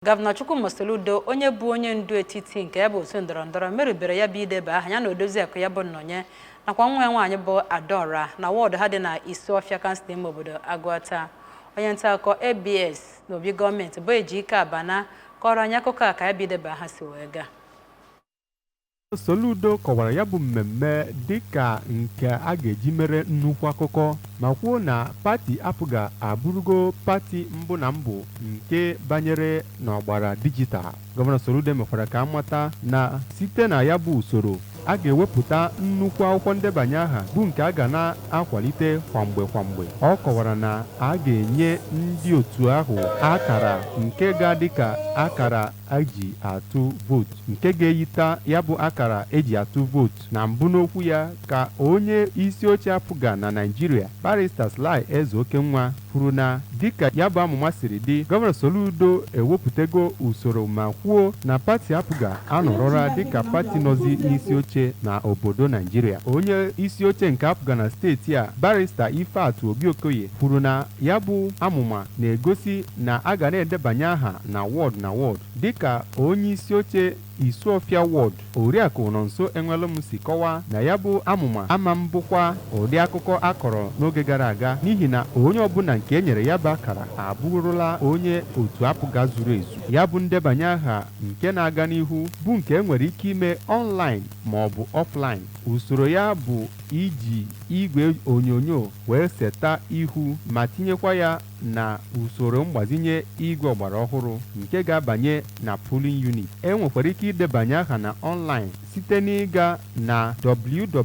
Gọvanọ Chukwuma Soludo onye bụ onye ndu etiti nke ya bụ otu ndọrọ ndọrọ merubere ya bụ ideba aha ya na odoziakụ ya bụ Nnọnye nakwa nwa ya nwaanyị bụ Adaọra na wọọdụ ha dị na Isuọfịa kansụl ime obodo Agụata onye nta akụkọ ABS na obi gọọmenti bụ Ejike Abana kọrọ anyị akụkọ a ka ya bụ ideba aha si wee gaa Soludo kọwara ya bụ mmemme dịka nke a ga-eji mere nnukwu akụkọ ma kwuo na pati APGA abụrụgo pati mbụ na mbụ nke banyere n'ọgbara dijital. Gọvanọ Soludo mekwara ka a mata na site na ya bụ usoro, a ga-ewepụta nnukwu akwụkwọ ndebanye aha bụ nke a ga na-akwalite kwa mgbe kwa mgbe. Ọ kọwara na a ga-enye ndị otu ahụ akara nke ga-adị ka akara e ji atụ vootu nke ga-eyita ya bụ akara e ji atụ vootu na mbụ n'okwu ya ka onye isi oche APGA na Naịjirịa barista Sly Ezeokenwa kwuru na dịka ya bụ amụma siri dị gọvanọ Soludo ewepụtago usoro ma kwuo na pati APGA anọrọla dịka pati nọzi n'isi oche na obodo Naịjirịa onye isi oche nke APGA na steeti a barista Ifeatụ Obi-Okoye kwuru na ya bụ amụma na-egosi na a ga na-edebanye aha na wọd na wọd dịka onyeisioche Isuọfịa Wọd, Oriakụ Nonso Enwelụm si kọwaa na ya bụ amụma ama mbụkwa ụdị akụkọ a kọrọ n'oge gara aga n'ihi na onye ọbụla nke e nyere ya bụ akara abụrụla onye otu APGA zuru ezu. Ya bụ ndebanye aha nke na-aga n'ihu bụ nke e nwere ike ime ọnlaịn maọbụ ọflaịn. Usoro ya bụ iji igwe onyonyo wee seta ihu ma tinyekwa ya na usoro mgbazinye igwe ọgbara ọhụrụ nke ga-abanye na polling unit. E nwekwara ike idebanye aha na online site n'ịga na www.apga.ng.